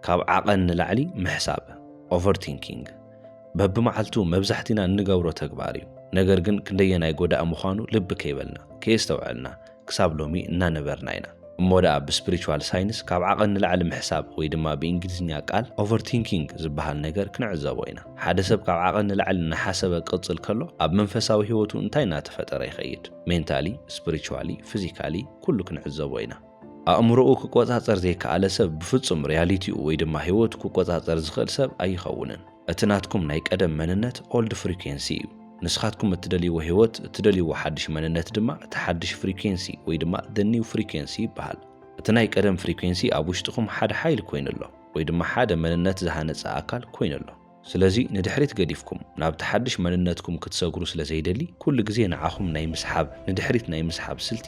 ካብ ዓቐን ንላዕሊ ምሕሳብ፣ Overthinking፣ በብመዓልቱ መብዛሕቲና እንገብሮ ተግባር እዩ። ነገር ግን ክንደየናይ ጎዳኢ ምዃኑ ልቢ ከይበልና፣ ከየስተውዐልና፣ ክሳብ ሎሚ እናነበርና ኢና። እሞ ደኣ ብስፕሪቹዋል ሳይንስ ካብ ዓቐን ንላዕሊ ምሕሳብ ወይ ድማ ብእንግሊዝኛ ቃል Overthinking ዝበሃል ነገር ክንዕዘቦ ኢና። ሓደ ሰብ ካብ ዓቐን ንላዕሊ እናሓሰበ ክቕጽል ከሎ ኣብ መንፈሳዊ ህይወቱ እንታይ እናተፈጠረ ይኸይድ? Mentally፣ Spiritually፣ Physically ኩሉ ክንዕዘቦ ኢና። ኣእምሮኡ ክቆጻጸር ዘይከኣለ ሰብ ብፍጹም ርያሊቲኡ ወይ ድማ ህይወቱ ክቆጻጸር ዝኽእል ሰብ ኣይኸውንን። እቲ ናትኩም ናይ ቀደም መንነት ኦልድ ፍሪኩዌንሲ እዩ። ንስኻትኩም እትደልይዎ ህይወት፣ እትደልይዎ ሓድሽ መንነት ድማ እቲ ሓድሽ ፍሪኩዌንሲ ወይ ድማ the new frequency ይበሃል። እቲ ናይ ቀደም ፍሪኩዌንሲ ኣብ ውሽጥኹም ሓደ ሓይሊ ኮይኑ ኣሎ ወይ ድማ ሓደ መንነት ዝሃነጸ ኣካል ኮይኑ ኣሎ። ስለዚ ንድሕሪት ገዲፍኩም ናብቲ ሓድሽ መንነትኩም ክትሰግሩ ስለ ዘይደሊ ኩሉ ግዜ ንዓኹም ናይ ምስሓብ ንድሕሪት ናይ ምስሓብ ስልቲ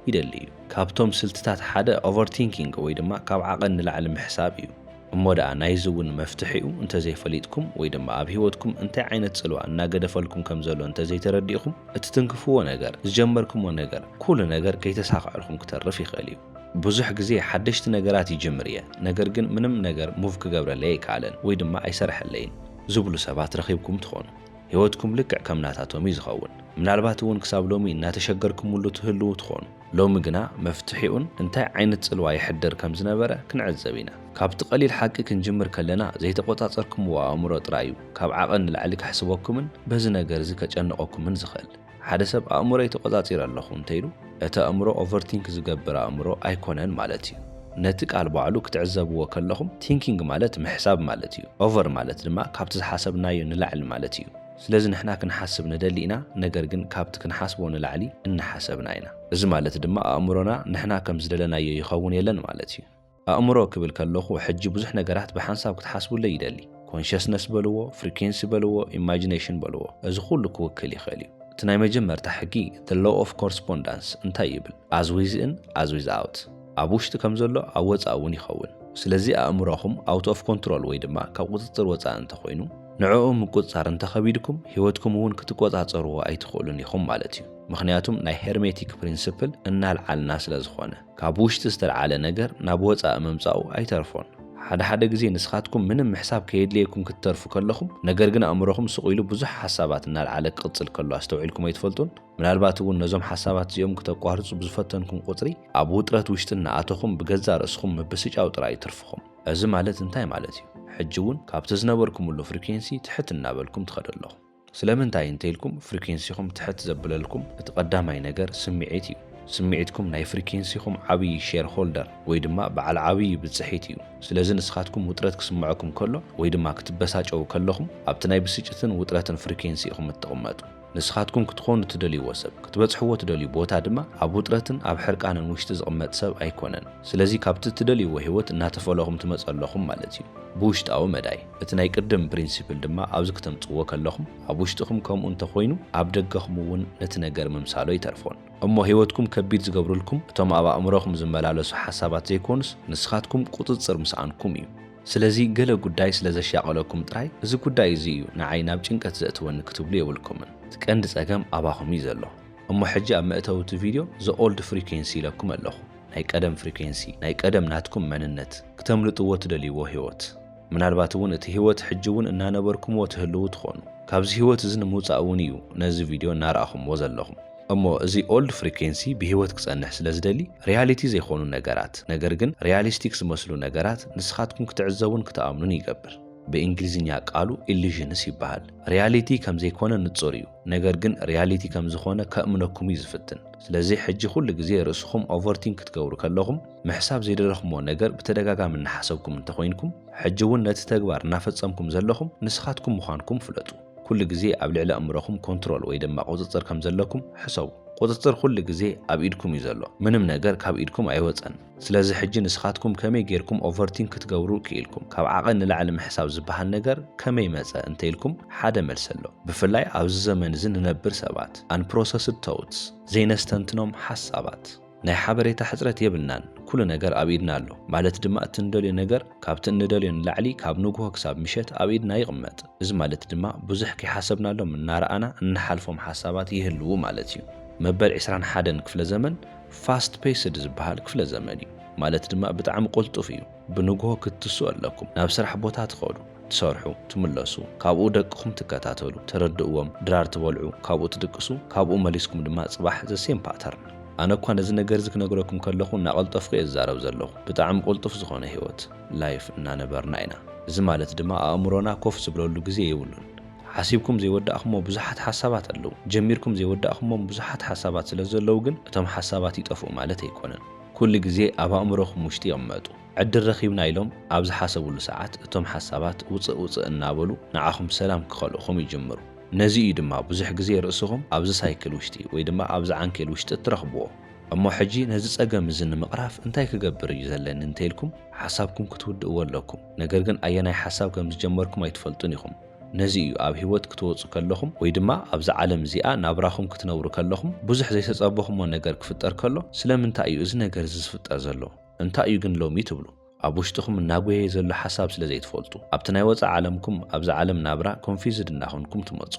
ይደሊ እዩ። ካብቶም ስልትታት ሓደ ኦቨርቲንኪንግ ወይ ድማ ካብ ዓቐን ንላዕሊ ምሕሳብ እዩ። እሞ ደኣ ናይዚ እውን መፍትሒኡ እንተዘይፈሊጥኩም ወይ ድማ ኣብ ህይወትኩም እንታይ ዓይነት ጽልዋ እናገደፈልኩም ከም ዘሎ እንተዘይተረዲእኹም እቲ ትንክፍዎ ነገር፣ ዝጀመርክሞ ነገር፣ ኩሉ ነገር ከይተሳኸዐልኩም ክተርፍ ይኽእል እዩ። ብዙሕ ግዜ ሓደሽቲ ነገራት ይጅምር እየ፣ ነገር ግን ምንም ነገር ሙቭ ክገብረለይ ኣይከኣለን ወይ ድማ ኣይሰርሐለይን ዝብሉ ሰባት ረኺብኩም ትኾኑ። ህይወትኩም ልክዕ ከም ናታቶም እዩ ዝኸውን። ምናልባት እውን ክሳብ ሎሚ እናተሸገርኩምሉ ትህልዉ ትኾኑ። ሎሚ ግና መፍትሒኡን እንታይ ዓይነት ጽልዋ የሕድር ከም ዝነበረ ክንዕዘብ ኢና። ካብቲ ቀሊል ሓቂ ክንጅምር ከለና ዘይተቖጻጸርኩምዎ ኣእምሮ ጥራይ እዩ ካብ ዓቐን ንላዕሊ ከሕስበኩምን በዚ ነገር እዚ ከጨንቐኩምን ዝኽእል። ሓደ ሰብ ኣእምሮይ ተቖጻጺረ ኣለኹ እንተኢሉ፣ እቲ ኣእምሮ ኦቨርቲንክ ዝገብር ኣእምሮ ኣይኮነን ማለት እዩ። ነቲ ቃል ባዕሉ ክትዕዘብዎ ከለኹም ቲንኪንግ ማለት ምሕሳብ ማለት እዩ። ኦቨር ማለት ድማ ካብቲ ዝሓሰብናዮ ንላዕሊ ማለት እዩ። ስለዚ ንሕና ክንሓስብ ንደሊ ኢና፣ ነገር ግን ካብቲ ክንሓስቦ ንላዕሊ እናሓሰብና ኢና። እዚ ማለት ድማ ኣእምሮና ንሕና ከም ዝደለናዮ ይኸውን የለን ማለት እዩ። ኣእምሮ ክብል ከለኹ ሕጂ ብዙሕ ነገራት ብሓንሳብ ክትሓስቡለይ ይደሊ። ኮንሸስነስ በልዎ፣ ፍሪኬንሲ በልዎ፣ ኢማጂነሽን በልዎ፣ እዚ ኩሉ ክውክል ይኽእል እዩ። እቲ ናይ መጀመርታ ሕጊ፣ The Law of Correspondence፣ እንታይ ይብል? As within, as without፣ ኣብ ውሽጢ ከም ዘሎ ኣብ ወጻኢ እውን ይኸውን። ስለዚ ኣእምሮኹም ኣውት ኦፍ ኮንትሮል ወይ ድማ ካብ ቁጽጽር ወጻኢ እንተኾይኑ፣ ንዕኡ ምቁጽጻር እንተኸቢድኩም ህይወትኩም እውን ክትቆጻጸርዎ ኣይትኽእሉን ኢኹም ማለት እዩ። ምኽንያቱም ናይ ሄርሜቲክ ፕሪንስፕል እናልዓልና ስለዝኾነ። ካብ ውሽጢ ዝተልዓለ ነገር ናብ ወጻኢ ምምጻኡ ኣይተርፎን። ሓደ ሓደ ግዜ ንስኻትኩም ምንም ምሕሳብ ከየድልየኩም ክትተርፉ ከለኹም፣ ነገር ግን ኣእምሮኹም ስቕ ኢሉ ብዙሕ ሓሳባት እናልዓለ ክቕጽል ከሎ ኣስተውዒልኩም ኣይትፈልጡን? ምናልባት እውን ነዞም ሓሳባት እዚኦም ክተቋርጹ ብዝፈተንኩም ቁጽሪ፣ ኣብ ውጥረት ውሽጢ እናኣተኹም ብገዛእ ርእስኹም ምብስጫው ጥራይ እዩ ትርፍኹም። እዚ ማለት እንታይ ማለት እዩ? ሕጂ እውን ካብቲ ዝነበርኩምሉ ፍሪኬንሲ ትሕት እናበልኩም ትኸዱ ኣለኹም። ስለምንታይ እንተኢልኩም ፍሪኬንሲኹም ትሕት ዘብለልኩም እቲ ቀዳማይ ነገር ስሚዒት እዩ። ስሚዒትኩም ናይ ፍሪኬንሲኹም ዓብይ ሼር ሆልደር ወይ ድማ በዓል ዓብይ ብፅሒት እዩ። ስለዚ ንስኻትኩም ውጥረት ክስመዐኩም ከሎ ወይ ድማ ክትበሳጨዉ ከለኹም ኣብቲ ናይ ብስጭትን ውጥረትን ፍሪኬንሲ ኢኹም እትቕመጡ። ንስኻትኩም ክትኾኑ ትደልይዎ ሰብ፣ ክትበፅሕዎ ትደልዩ ቦታ ድማ ኣብ ውጥረትን ኣብ ሕርቃንን ውሽጢ ዝቕመጥ ሰብ ኣይኮነን። ስለዚ ካብቲ እትደልይዎ ህይወት እናተፈለኹም ትመፁ ኣለኹም ማለት እዩ። ብውሽጣዊ መዳይ። እቲ ናይ ቅድም ፕሪንሲፕል ድማ ኣብዚ ክተምጽዎ ከለኹም ኣብ ውሽጥኹም ከምኡ እንተ ኾይኑ ኣብ ደገኹም እውን ነቲ ነገር ምምሳሉ ኣይተርፎን። እሞ ህይወትኩም ከቢድ ዝገብርልኩም እቶም ኣብ ኣእምሮኹም ዝመላለሱ ሓሳባት ዘይኮኑስ ንስኻትኩም ቁጽጽር ምስኣንኩም እዩ። ስለዚ ገለ ጉዳይ ስለ ዘሻቐለኩም ጥራይ እዚ ጉዳይ እዚ እዩ ንዓይ ናብ ጭንቀት ዘእትወኒ ክትብሉ የብልኩምን። እቲ ቀንዲ ጸገም ኣባኹም እዩ ዘሎ። እሞ ሕጂ ኣብ መእተዊ እቲ ቪድዮ the old frequency ኢለኩም ኣለኹ። ናይ ቀደም ፍሪኩዌንሲ፣ ናይ ቀደም ናትኩም መንነት፣ ክተምልጥዎ ትደልይዎ ህይወት። ምናልባት እውን እቲ ህይወት ሕጂ እውን እናነበርኩምዎ ትህልዉ ትኾኑ። ካብዚ ህይወት እዚ ንምውፃእ እውን እዩ ነዚ ቪድዮ እናረኣኹምዎ ዘለኹም። እሞ እዚ ኦልድ ፍሪኬንሲ ብህይወት ክፀንሕ ስለ ዝደሊ ሪያሊቲ ዘይኾኑ ነገራት ነገር ግን ሪያሊስቲክ ዝመስሉ ነገራት ንስኻትኩም ክትዕዘቡን ክትኣምኑን ይገብር። ብእንግሊዝኛ ቃሉ ኢሉዥንስ ይበሃል። ሪያሊቲ ከም ዘይኮነ ንፁር እዩ ነገር ግን ሪያሊቲ ከም ዝኾነ ከእምነኩም እዩ ዝፍትን። ስለዚ ሕጂ ኩሉ ግዜ ርእስኹም ኦቨርቲንክ ክትገብሩ ከለኹም፣ ምሕሳብ ዘይደለኹምዎ ነገር ብተደጋጋሚ እናሓሰብኩም እንተኾይንኩም፣ ሕጂ እውን ነቲ ተግባር እናፈጸምኩም ዘለኹም ንስኻትኩም ምዃንኩም ፍለጡ። ኩሉ ግዜ ኣብ ልዕሊ ኣእምሮኹም ኮንትሮል ወይ ድማ ቁጽጽር ከም ዘለኩም ሕሰቡ። ቁጽጽር ኩሉ ግዜ ኣብ ኢድኩም እዩ ዘሎ። ምንም ነገር ካብ ኢድኩም ኣይወጸን። ስለዚ ሕጂ ንስኻትኩም ከመይ ጌርኩም ኦቨርቲንክ ክትገብሩ ክኢልኩም። ካብ ዓቐን ንላዕሊ ምሕሳብ ዝበሃል ነገር ከመይ መጸ እንተኢልኩም ሓደ መልሲ ኣሎ። ብፍላይ ኣብዚ ዘመን እዚ ንነብር ሰባት፣ Unprocessed Thoughts፣ ዘይነስተንትኖም ሓሳባት። ናይ ሓበሬታ ሕጽረት የብልናን፣ ኩሉ ነገር ኣብ ኢድና ኣሎ፣ ማለት ድማ እቲ እንደልዮ ነገር ካብቲ እንደልዮ ንላዕሊ ካብ ንጉሆ ክሳብ ምሸት ኣብ ኢድና ይቕመጥ፣ እዚ ማለት ድማ ብዙሕ ከይሓሰብናሎም እናረኣና እንሓልፎም ሓሳባት ይህልዉ ማለት እዩ። መበል ዕስራን ሓደን ክፍለ ዘመን ፋስት ፔስድ ዝበሃል ክፍለ ዘመን እዩ፣ ማለት ድማ ብጣዕሚ ቅልጡፍ እዩ። ብንግሆ ክትስኡ ኣለኩም ናብ ስራሕ ቦታ ትኸዱ ትሰርሑ ትምለሱ ካብኡ ደቅኹም ትከታተሉ ተረድእዎም ድራር ትበልዑ ካብኡ ትድቅሱ ካብኡ መሊስኩም ድማ ጽባሕ the same pattern ኣነ እኳ ነዚ ነገር እዚ ክነግረኩም ከለኹ እናቐልጠፍኩ እየ ዝዛረብ ዘለኹ ብጣዕሚ ቁልጡፍ ዝኾነ ሂወት life እናነበርና ኢና እዚ ማለት ድማ ኣእምሮና ኮፍ ዝብለሉ ግዜ የብሉን ሓሲብኩም ዘይወዳእኩሞ ብዙሓት ሓሳባት ኣለዉ ጀሚርኩም ዘይወዳእኩሞም ብዙሓት ሓሳባት ስለ ዘለዉ ግን እቶም ሓሳባት ይጠፍኡ ማለት ኣይኮነን ኩሉ ግዜ ኣብ ኣእምሮኹም ውሽጢ ይቕመጡ። ዕድል ረኺብና ኢሎም ኣብ ዝሓሰብሉ ሰዓት እቶም ሓሳባት ውጽእ ውጽእ እናበሉ ንዓኹም ሰላም ክኸልእኹም ይጅምሩ። ነዚ እዩ ድማ ብዙሕ ግዜ ርእስኹም ኣብዚ ሳይክል ውሽጢ ወይ ድማ ኣብዚ ዓንኬል ውሽጢ እትረኽብዎ። እሞ ሕጂ ነዚ ጸገም እዚ ንምቕራፍ እንታይ ክገብር እዩ ዘለኒ እንተኢልኩም ሓሳብኩም ክትውድእዎ ኣለኩም። ነገር ግን ኣየናይ ሓሳብ ከም ዝጀመርኩም ኣይትፈልጡን ኢኹም። ነዚ እዩ ኣብ ህይወት ክትወጹ ከለኹም ወይ ድማ ኣብዛ ዓለም እዚኣ ናብራኹም ክትነብሩ ከለኹም ብዙሕ ዘይተጸበኹሞ ነገር ክፍጠር ከሎ ስለምንታይ እዩ እዚ ነገር እዚ ዝፍጠር ዘሎ እንታይ እዩ ግን ሎሚ ትብሉ ኣብ ውሽጥኹም እናጎየየ ዘሎ ሓሳብ ስለ ዘይትፈልጡ ኣብቲ ናይ ወጻኢ ዓለምኩም ኣብዛ ዓለም ናብራ ኮንፊዝድ እናኾንኩም ትመጹ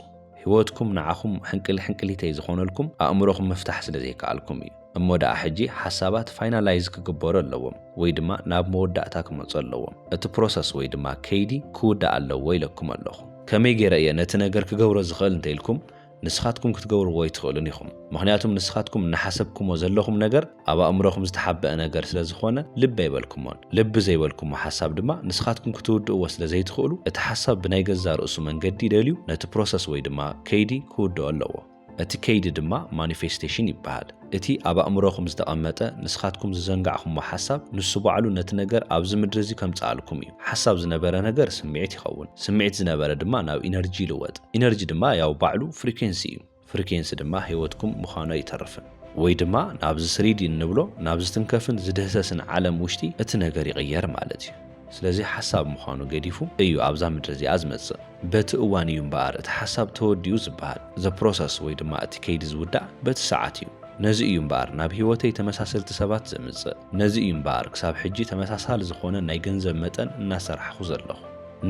ህይወትኩም ንዓኹም ሕንቅል ሕንቅሊተይ ዝኾነልኩም ኣእምሮኹም ምፍታሕ ስለ ዘይከኣልኩም እዩ። እሞ ደኣ ሕጂ ሓሳባት ፋይናላይዝ ክግበሩ ኣለዎም ወይ ድማ ናብ መወዳእታ ክመጹ ኣለዎም። እቲ ፕሮሰስ ወይ ድማ ከይዲ ክውዳእ ኣለዎ ኢለኩም ኣለኹ። ከመይ ገይረ እየ ነቲ ነገር ክገብሮ ዝኽእል እንተ ኢልኩም ንስኻትኩም ክትገብርዎ ኣይትኽእሉን ኢኹም። ምኽንያቱም ንስኻትኩም እናሓሰብኩሞ ዘለኹም ነገር ኣብ ኣእምሮኹም ዝተሓበኣ ነገር ስለ ዝኾነ ልቢ ኣይበልኩሞን። ልቢ ዘይበልኩሞ ሓሳብ ድማ ንስኻትኩም ክትውድእዎ ስለ ዘይትኽእሉ እቲ ሓሳብ ብናይ ገዛእ ርእሱ መንገዲ ደልዩ ነቲ ፕሮሰስ ወይ ድማ ከይዲ ክውድኦ ኣለዎ። እቲ ከይዲ ድማ ማኒፌስቴሽን ይበሃል። እቲ ኣብ ኣእምሮኹም ዝተቐመጠ ንስኻትኩም ዝዘንጋዕኹሞ ሓሳብ ንሱ ባዕሉ ነቲ ነገር ኣብዚ ምድሪ እዚ ከምፀኣልኩም እዩ። ሓሳብ ዝነበረ ነገር ስምዒት ይኸውን። ስምዒት ዝነበረ ድማ ናብ ኢነርጂ ይልወጥ። ኢነርጂ ድማ ያው ባዕሉ ፍሪኬንሲ እዩ። ፍሪኬንሲ ድማ ህይወትኩም ምዃኑ ኣይተርፍን። ወይ ድማ ናብዚ ስሪዲ እንብሎ ናብ ዝትንከፍን ዝድህሰስን ዓለም ውሽጢ እቲ ነገር ይቕየር ማለት እዩ። ስለዚ ሓሳብ ምዃኑ ገዲፉ እዩ ኣብዛ ምድሪ እዚኣ ዝመጽእ። በቲ እዋን እዩ እምበኣር እቲ ሓሳብ ተወዲኡ ዝበሃል። The process ወይ ድማ እቲ ከይዲ ዝውዳእ በቲ ሰዓት እዩ። ነዚ እዩ እምበኣር ናብ ህይወተይ ተመሳሰልቲ ሰባት ዘምጽእ። ነዚ እዩ እምበኣር ክሳብ ሕጂ ተመሳሳሊ ዝኾነ ናይ ገንዘብ መጠን እናሰራሕኹ ዘለኹ።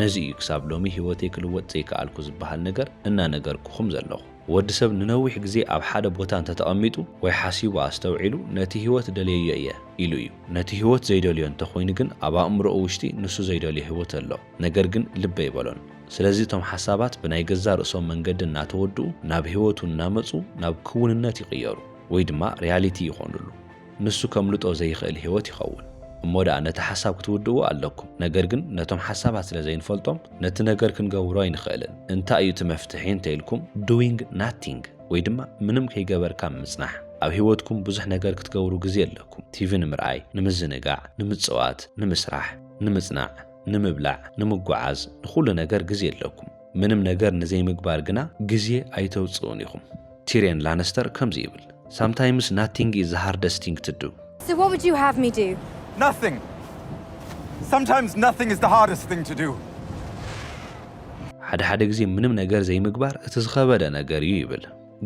ነዚ እዩ ክሳብ ሎሚ ህይወተይ ክልወጥ ዘይከኣልኩ ዝበሃል ነገር እናነገርኩኹም ዘለኹ። ወዲ ሰብ ንነዊሕ ግዜ ኣብ ሓደ ቦታ እንተ ተቐሚጡ ወይ ሓሲቡ ኣስተውዒሉ ነቲ ህይወት ደልየዮ እየ ኢሉ እዩ። ነቲ ህይወት ዘይደልዮ እንተ ኹይኑ ግን ኣብ ኣእምሮኡ ውሽጢ ንሱ ዘይደልዮ ህይወት ኣሎ ነገር ግን ልብ ኣይበሎን። ስለዚ እቶም ሓሳባት ብናይ ገዛእ ርእሶም መንገዲ እናተወድኡ ናብ ህይወቱ እናመጹ ናብ ክውንነት ይቕየሩ ወይ ድማ ሪያሊቲ ይኾኑሉ። ንሱ ከምልጦ ዘይኽእል ሕይወት ይኸውን። እሞ ደኣ ነቲ ሓሳብ ክትውድእዎ ኣለኩም። ነገር ግን ነቶም ሓሳባት ስለ ዘይንፈልጦም ነቲ ነገር ክንገብሮ ኣይንኽእልን። እንታይ እዩ እቲ መፍትሒ እንተ ኢልኩም፣ Doing Nothing ወይ ድማ ምንም ከይገበርካ ምጽናሕ። ኣብ ሕይወትኩም ብዙሕ ነገር ክትገብሩ ግዜ ኣለኩም። ቲቪ ንምርኣይ፣ ንምዝንጋዕ፣ ንምጽዋት፣ ንምስራሕ፣ ንምጽናዕ፣ ንምብላዕ፣ ንምጉዓዝ፣ ንኹሉ ነገር ግዜ ኣለኩም። ምንም ነገር ንዘይምግባር ግና ግዜ ኣይተውጽኡን ኢኹም። ቲርየን ላነስተር ከምዚ ይብል፣ ሳምታይምስ ናቲንግ ኢዝ ዘ ሃርደስት ቲንግ ቱ ዱ። So what would you have me do? Nothing! Sometimes nothing is the hardest thing to do. ሓደ ሓደ ግዜ ምንም ነገር ዘይምግባር እቲ ዝኸበደ ነገር እዩ ይብል።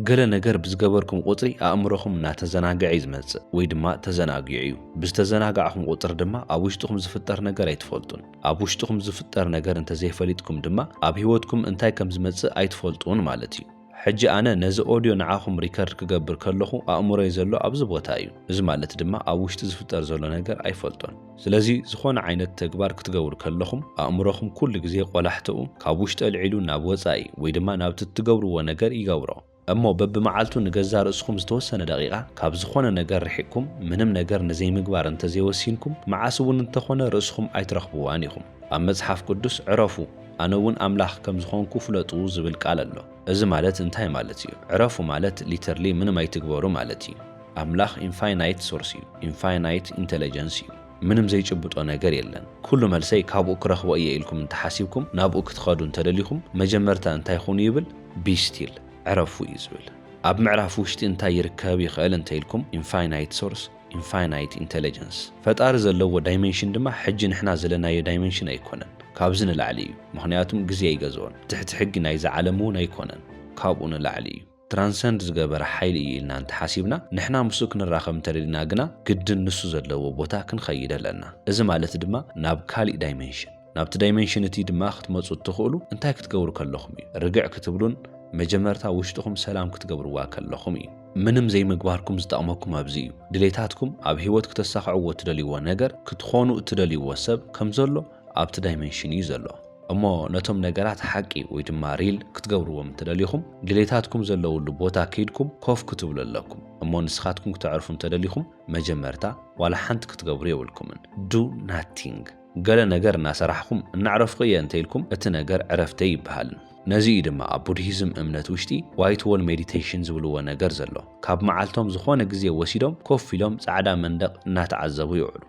ገለ ነገር ብዝገበርኩም ቁጽሪ ኣእምሮኹም እናተዘናግዐ እዩ ዝመጽእ ወይ ድማ ተዘናጊዑ እዩ። ብዝተዘናጋዕኹም ቁጽሪ ድማ ኣብ ውሽጥኹም ዝፍጠር ነገር ኣይትፈልጡን። ኣብ ውሽጥኹም ዝፍጠር ነገር እንተዘይፈሊጥኩም ድማ ኣብ ሂወትኩም እንታይ ከም ዝመጽእ ኣይትፈልጡን ማለት እዩ። ሕጂ ኣነ ነዚ ኦድዮ ንዓኹም ሪከርድ ክገብር ከለኹ ኣእምሮይ ዘሎ ኣብዚ ቦታ እዩ። እዚ ማለት ድማ ኣብ ውሽጢ ዝፍጠር ዘሎ ነገር ኣይፈልጦን። ስለዚ ዝኾነ ዓይነት ተግባር ክትገብሩ ከለኹም ኣእምሮኹም ኩሉ ግዜ ቆላሕተኡ ካብ ውሽጢ ኣልዒሉ ናብ ወጻኢ ወይ ድማ ናብቲ እትገብርዎ ነገር ይገብሮ። እሞ በብመዓልቱ ንገዛእ ርእስኹም ዝተወሰነ ደቒቓ ካብ ዝኾነ ነገር ርሒቕኩም ምንም ነገር ንዘይምግባር እንተ ዘይወሲንኩም፣ መዓስ እውን እንተ ኾነ ርእስኹም ኣይትረኽብዋን ኢኹም። ኣብ መጽሓፍ ቅዱስ ዕረፉ፣ ኣነ እውን ኣምላኽ ከም ዝኾንኩ ፍለጡ ዝብል ቃል ኣሎ። እዚ ማለት እንታይ ማለት እዩ? ዕረፉ ማለት literally ምንም ኣይትግበሩ ማለት እዩ። ኣምላኽ ኢንፋይናይት ሶርስ እዩ፣ ኢንፋይናይት ኢንተለጀንስ እዩ። ምንም ዘይጭብጦ ነገር የለን ኩሉ መልሰይ ካብኡ ክረኽቦ እየ ኢልኩም እንተሓሲብኩም ናብኡ ክትኸዱ እንተደሊኹም መጀመርታ እንታይ ኹኑ ይብል ቢስቲል ዕረፉ እዩ ዝብል ኣብ ምዕራፍ ውሽጢ እንታይ ይርከብ ይኽእል እንተኢልኩም ኢንፋይናይት ሶርስ ኢንፋይናይት ኢንተለጀንስ ፈጣሪ ዘለዎ ዳይመንሽን ድማ ሕጂ ንሕና ዘለናዮ ዳይመንሽን ኣይኮነን ካብዚ ንላዕሊ እዩ ምኽንያቱም ግዜ ኣይገዝኦን ትሕቲ ሕጊ ናይዛ ዓለም እውን ኣይኮነን ካብኡ ንላዕሊ እዩ ትራንሰንድ ዝገበረ ሓይሊ እዩ ኢልና እንተሓሲብና፣ ንሕና ምስኡ ክንራኸብ እንተደሊና ግና ግድን ንሱ ዘለዎ ቦታ ክንኸይድ ኣለና። እዚ ማለት ድማ ናብ ካሊእ ዳይመንሽን። ናብቲ ዳይመንሽን እትይ ድማ ክትመጹ እትኽእሉ እንታይ ክትገብሩ ከለኹም እዩ። ርግዕ ክትብሉን መጀመርታ ውሽጥኹም ሰላም ክትገብርዋ ከለኹም እዩ። ምንም ዘይምግባርኩም ዝጠቕመኩም ኣብዚ እዩ። ድሌታትኩም፣ ኣብ ህይወት ክተሳኽዕዎ እትደልይዎ ነገር፣ ክትኾኑ እትደልይዎ ሰብ፣ ከምዘሎ፣ ኣብቲ ዳይመንሽን እዩ ዘሎ። እሞ ነቶም ነገራት ሓቂ ወይ ድማ ሪል ክትገብርዎም እንተደሊኹም ድሌታትኩም ዘለውሉ ቦታ ከይድኩም ኮፍ ክትብሉ ኣለኩም። እሞ ንስኻትኩም ክተዕርፉ እንተደሊኹም መጀመርታ ዋላ ሓንቲ ክትገብሩ የብልኩምን። ዱ ናቲንግ። ገለ ነገር እናሰራሕኹም እናዕረፍኹ እየ እንተኢልኩም እቲ ነገር ዕረፍተይ ይበሃል። ነዚ እዩ ድማ ኣብ ቡድሂዝም እምነት ውሽጢ ዋይት ዎል ሜዲቴሽን ዝብልዎ ነገር ዘሎ። ካብ መዓልቶም ዝኾነ ግዜ ወሲዶም ኮፍ ኢሎም ጻዕዳ መንደቕ እናተዓዘቡ ይውዕሉ።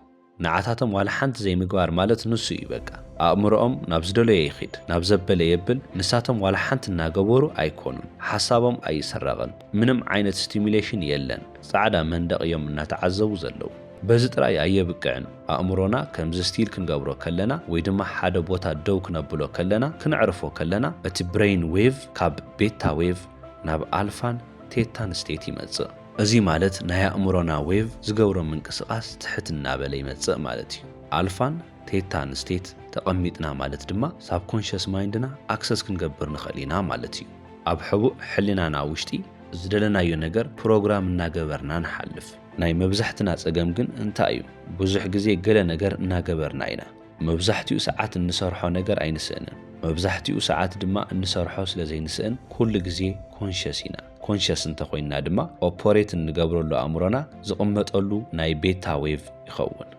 ንዓታቶም ዋላ ሓንቲ ዘይምግባር ማለት ንሱ እዩ በቃ ኣእምሮኦም ናብ ዝደለዮ ይኺድ ናብ ዘበለ የብል ንሳቶም ዋላ ሓንቲ እናገበሩ ኣይኮኑን ሓሳቦም ኣይስረቕን ምንም ዓይነት ስቲሙሌሽን የለን ጻዕዳ መንደቕ እዮም እናተዓዘቡ ዘለዉ በዚ ጥራይ ኣየብቅዕን ኣእምሮና ከምዚ ስቲል ክንገብሮ ከለና ወይ ድማ ሓደ ቦታ ደው ክነብሎ ከለና ክነዕርፎ ከለና እቲ ብረይን ዌቭ ካብ ቤታ ዌቭ ናብ ኣልፋን ቴታን ስቴት ይመጽእ እዚ ማለት ናይ ኣእምሮና ዌቭ ዝገብሮ ምንቅስቃስ ትሕት እናበለ ይመፅእ ማለት እዩ። ኣልፋን ቴታን ስቴት ተቐሚጥና ማለት ድማ ሳብኮንሸስ ማይንድና ኣክሰስ ክንገብር ንኽእል ኢና ማለት እዩ። ኣብ ሕቡእ ሕሊናና ውሽጢ ዝደለናዮ ነገር ፕሮግራም እናገበርና ንሓልፍ። ናይ መብዛሕትና ፀገም ግን እንታይ እዩ? ብዙሕ ግዜ ገለ ነገር እናገበርና ኢና። መብዛሕቲኡ ሰዓት እንሰርሖ ነገር ኣይንስእንን። መብዛሕቲኡ ሰዓት ድማ እንሰርሖ ስለዘይንስእን ኩሉ ግዜ ኮንሸስ ኢና። ኮንሸስ እንተኾይንና ድማ ኦፖሬት እንገብረሉ ኣእምሮና ዝቕመጠሉ ናይ ቤታ ዌቭ ይኸውን።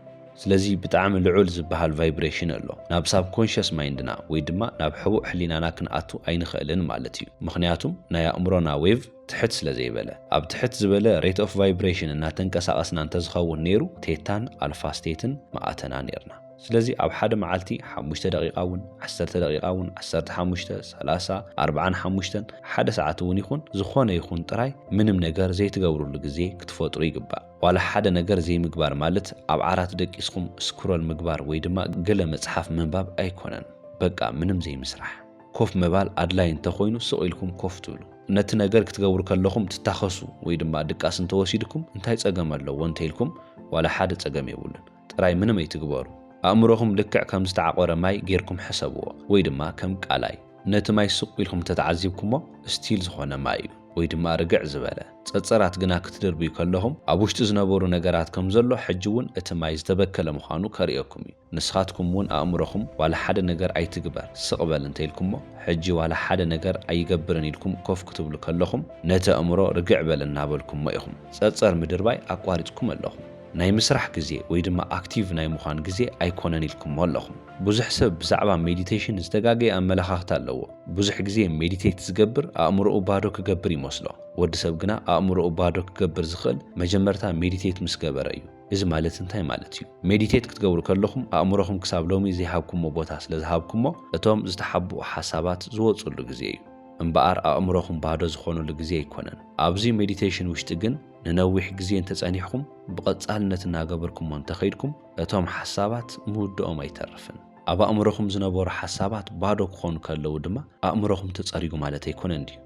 ስለዚ ብጣዕሚ ልዑል ዝበሃል ቫይብሬሽን ኣሎ። ናብ ሳብኮንሸስ ማይንድና ወይ ድማ ናብ ሕቡእ ሕሊናና ክንኣቱ ኣይንኽእልን ማለት እዩ። ምኽንያቱም ናይ ኣእምሮና ዌቭ ትሕት ስለዘይበለ። ኣብ ትሕት ዝበለ ሬት ኦፍ ቫይብሬሽን እናተንቀሳቐስና እንተዝኸውን ነይሩ ቴታን ኣልፋ ስቴትን ምኣተና ነይርና። ስለዚ ኣብ ሓደ መዓልቲ ሓሙሽተ ደቂቃ እውን ዓሰርተ ደቂቃ እውን ዓሰርተ ሓሙሽተ ሰላሳ ኣርብዓን ሓሙሽተን ሓደ ሰዓት እውን ይኹን ዝኾነ ይኹን ጥራይ ምንም ነገር ዘይትገብርሉ ግዜ ክትፈጥሩ ይግባእ። ዋላ ሓደ ነገር ዘይምግባር ማለት ኣብ ዓራት ደቂስኹም ስክሮል ምግባር ወይ ድማ ገለ መጽሓፍ ምንባብ ኣይኮነን። በቃ ምንም ዘይምስራሕ። ኮፍ ምባል ኣድላይ እንተኾይኑ ስቕ ኢልኩም ኮፍ ትብሉ። ነቲ ነገር ክትገብሩ ከለኹም ትታኸሱ ወይ ድማ ድቃስ እንተወሲድኩም እንታይ ጸገም ኣለዎ እንተኢልኩም ዋላ ሓደ ጸገም የብሉን። ጥራይ ምንም ኣይትግበሩ። ኣእምሮኹም ልክዕ ከም ዝተዓቖረ ማይ ጌርኩም ሕሰብዎ ወይ ድማ ከም ቃላይ። ነቲ ማይ ሱቕ ኢልኩም እንተተዓዚብኩሞ ስቲል ዝኾነ ማይ እዩ ወይ ድማ ርግዕ ዝበለ። ጸጸራት ግና ክትድርብዩ ከለኹም ኣብ ውሽጢ ዝነበሩ ነገራት ከም ዘሎ ሕጂ እውን እቲ ማይ ዝተበከለ ምዃኑ ከርእየኩም እዩ። ንስኻትኩም እውን ኣእምሮኹም ዋላ ሓደ ነገር ኣይትግበር ስቕ በል እንተኢልኩሞ ሕጂ ዋላ ሓደ ነገር ኣይገብርን ኢልኩም ኮፍ ክትብሉ ከለኹም ነቲ ኣእምሮ ርግዕ በል እናበልኩሞ ኢኹም ጸጸር ምድርባይ ኣቋሪጽኩም ኣለኹም። ናይ ምስራሕ ግዜ ወይ ድማ ኣክቲቭ ናይ ምዃን ግዜ ኣይኮነን ኢልኩሞ ኣለኹም። ብዙሕ ሰብ ብዛዕባ ሜዲቴሽን ዝተጋገየ ኣመለኻኽታ ኣለዎ። ብዙሕ ግዜ ሜዲቴት ዝገብር ኣእምሮኡ ባዶ ክገብር ይመስሎ። ወዲ ሰብ ግና ኣእምሮኡ ባዶ ክገብር ዝኽእል መጀመርታ ሜዲቴት ምስ ገበረ እዩ። እዚ ማለት እንታይ ማለት እዩ? ሜዲቴት ክትገብሩ ከለኹም ኣእምሮኹም ክሳብ ሎሚ ዘይሃብኩሞ ቦታ ስለ ዝሃብኩሞ እቶም ዝተሓብኡ ሓሳባት ዝወጽሉ ግዜ እዩ። እምበኣር ኣእምሮኹም ባዶ ዝኾነሉ ግዜ ኣይኮነን። ኣብዚ ሜዲቴሽን ውሽጢ ግን፣ ንነዊሕ ግዜ እንተጸኒሕኩም ብቐጻልነት እናገበርኩሞ እንተኸይድኩም እቶም ሓሳባት ምውድኦም ኣይተርፍን። ኣብ ኣእምሮኹም ዝነበሩ ሓሳባት ባዶ ክኾኑ ከለዉ ድማ ኣእምሮኹም ተጸሪጉ ማለት ኣይኮነን ድዩ?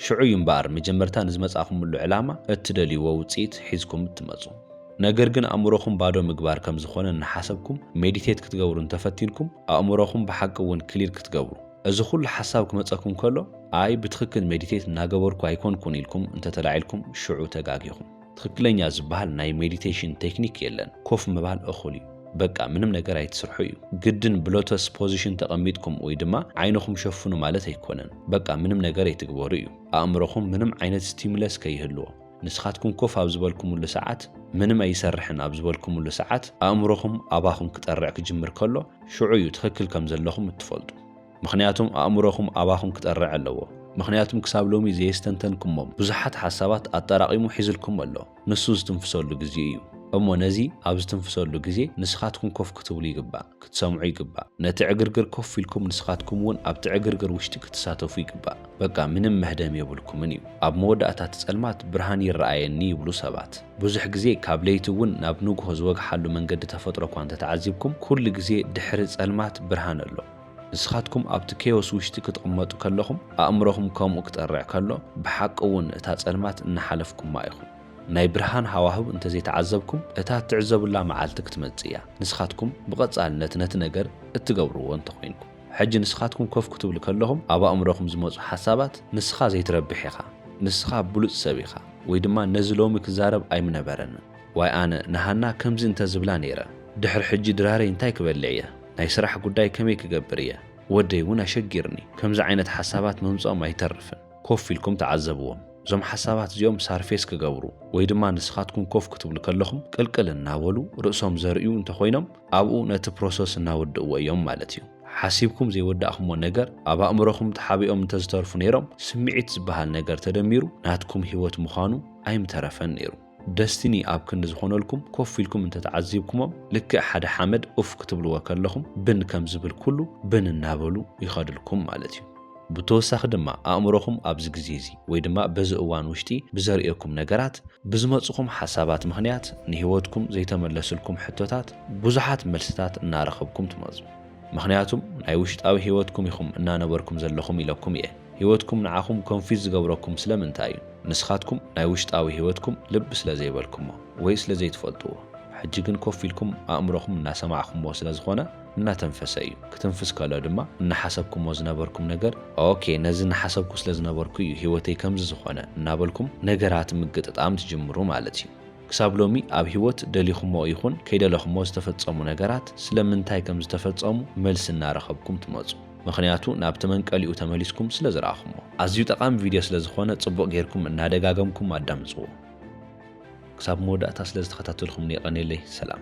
ሽዑ እዩ እምበኣር መጀመርታ ንዝመጻእኩምሉ ዕላማ እትደልይዎ ውጽኢት ሒዝኩም እትመጹ። ነገር ግን ኣእምሮኹም ባዶ ምግባር ከም ዝኾነ እናሓሰብኩም ሜዲቴት ክትገብሩ እንተፈቲንኩም ኣእምሮኹም ብሓቂ እውን ክሊር ክትገብሩ፣ እዚ ኩሉ ሓሳብ ክመጸኩም ከሎ ኣይ ብትኽክል ሜዲቴት እናገበርኩ ኣይኮንኩን ኢልኩም እንተተላዒልኩም ሽዑ ተጋጊኹም። ትኽክለኛ ዝበሃል ናይ ሜዲቴሽን ቴክኒክ የለን። ኮፍ ምባል እኹል እዩ። በቃ ምንም ነገር ኣይትስርሑ እዩ። ግድን ብሎተስ ፖዚሽን ተቐሚጥኩም ወይ ድማ ዓይንኹም ሸፍኑ ማለት ኣይኮነን። በቃ ምንም ነገር ኣይትግበሩ እዩ። ኣእምሮኹም ምንም ዓይነት ስቲሙለስ ከይህልዎ። ንስኻትኩም ኮፍ ኣብ ዝበልኩምሉ ሰዓት፣ ምንም ኣይሰርሕን ኣብ ዝበልኩምሉ ሰዓት፣ ኣእምሮኹም ኣባኹም ክጠርዕ ክጅምር ከሎ፣ ሽዑ እዩ ትኽክል ከም ዘለኹም እትፈልጡ። ምኽንያቱም ኣእምሮኹም ኣባኹም ክጠርዕ ኣለዎ። ምኽንያቱም ክሳብ ሎሚ ዘየስተንተንኩሞም ብዙሓት ሓሳባት ኣጠራቒሙ ሒዙልኩም ኣሎ። ንሱ ዝትንፍሰሉ ግዜ እዩ። እሞ ነዚ ኣብ ዝትንፍሰሉ ግዜ ንስኻትኩም ኮፍ ክትብሉ ይግባእ። ክትሰምዑ ይግባእ ነቲ ዕግርግር ኮፍ ኢልኩም ንስኻትኩም ውን ኣብቲ ዕግርግር ውሽጢ ክትሳተፉ ይግባእ በቃ ምንም መህደም የብልኩምን እዩ ኣብ መወዳእታ እቲ ጸልማት ብርሃን ይረኣየኒ ይብሉ ሰባት ብዙሕ ግዜ ካብ ለይቲ ውን ናብ ንግሆ ዝወግሓሉ መንገዲ ተፈጥሮ እኳ እንተተዓዚብኩም ኩሉ ግዜ ድሕሪ ጸልማት ብርሃን ኣሎ ንስኻትኩም ኣብቲ ኬዮስ ውሽጢ ክትቕመጡ ከለኹም ኣእምሮኹም ከምኡ ክጠርዕ ከሎ ብሓቂ ውን እታ ጸልማት እናሓለፍኩማ ኢኹም። ናይ ብርሃን ሃዋህው እንተዘይተዓዘብኩም እታ እትዕዘቡላ መዓልቲ ክትመጽእ እያ። ንስኻትኩም ብቐጻልነት ነቲ ነገር እትገብርዎ እንተኾይንኩም። ሕጂ ንስኻትኩም ኮፍ ክትብሉ ከለኹም ኣብ ኣእምሮኹም ዝመጹ ሓሳባት ንስኻ ዘይትረብሕ ኢኻ፣ ንስኻ ብሉጽ ሰብ ኢኻ፣ ወይ ድማ ነዚ ሎሚ ክዛረብ ኣይምነበረንን፣ ዋይ ኣነ ንሃና ከምዚ እንተዝብላ ነይረ፣ ድሕሪ ሕጂ ድራረይ እንታይ ክበልዕ እየ፣ ናይ ስራሕ ጉዳይ ከመይ ክገብር እየ፣ ወደይ እውን ኣሸጊርኒ፣ ከምዚ ዓይነት ሓሳባት ምምጽኦም ኣይተርፍን። ኮፍ ኢልኩም ተዓዘብዎም። እዞም ሓሳባት እዚኦም ሳርፌስ ክገብሩ ወይ ድማ ንስኻትኩም ኮፍ ክትብሉ ከለኹም ቅልቅል እናበሉ ርእሶም ዘርእዩ እንተኾይኖም ኣብኡ ነቲ ፕሮሰስ እናወድእዎ እዮም ማለት እዩ። ሓሲብኩም ዘይወዳእክሞ ነገር ኣብ ኣእምሮኹም ተሓቢኦም እንተዝተርፉ ነይሮም ስምዒት ዝበሃል ነገር ተደሚሩ ናትኩም ህይወት ምዃኑ ኣይምተረፈን ነይሩ። ደስቲኒ ኣብ ክንዲ ዝኾነልኩም ኮፍ ኢልኩም እንተተዓዚብኩሞም ልክዕ ሓደ ሓመድ ኡፍ ክትብልዎ ከለኹም ብን ከም ዝብል ኩሉ ብን እናበሉ ይኸድልኩም ማለት እዩ። ብተወሳኺ ድማ ኣእምሮኹም ኣብዚ ግዜ እዚ ወይ ድማ በዚ እዋን ውሽጢ ብዘርእየኩም ነገራት ብዝመፁኹም ሓሳባት ምኽንያት ንህይወትኩም ዘይተመለስልኩም ሕቶታት ብዙሓት መልስታት እናረኸብኩም ትመፁ። ምኽንያቱም ናይ ውሽጣዊ ህይወትኩም ኢኹም እናነበርኩም ዘለኹም ኢለኩም እየ። ህይወትኩም ንዓኹም ኮንፊዝ ዝገብረኩም ስለምንታይ እዩ? ንስኻትኩም ናይ ውሽጣዊ ህይወትኩም ልብ ስለ ዘይበልኩሞ ወይ ስለ ዘይትፈልጥዎ። ሕጂ ግን ኮፍ ኢልኩም ኣእምሮኹም እናሰማዕኩምዎ ስለ ዝኾነ እናተንፈሰ እዩ። ክትንፍስ ከሎ ድማ እናሓሰብኩምዎ ዝነበርኩም ነገር ኦኬ ነዚ እናሓሰብኩ ስለ ዝነበርኩ እዩ ህይወተይ ከምዚ ዝኾነ እናበልኩም ነገራት ምግጥጣም ትጅምሩ ማለት እዩ። ክሳብ ሎሚ ኣብ ህይወት ደሊኹምዎ ይኹን ከይደለኹምዎ ዝተፈጸሙ ነገራት ስለምንታይ ከም ዝተፈጸሙ መልሲ እናረኸብኩም ትመጹ። ምኽንያቱ ናብቲ መንቀሊኡ ተመሊስኩም ስለ ዝረኣኹሞ። ኣዝዩ ጠቓሚ ቪድዮ ስለ ዝኾነ ጽቡቕ ጌርኩም እናደጋገምኩም ኣዳምጽዎ። ክሳብ መወዳእታ ስለ ዝተኸታተልኩምኒ የቐኔለይ። ሰላም።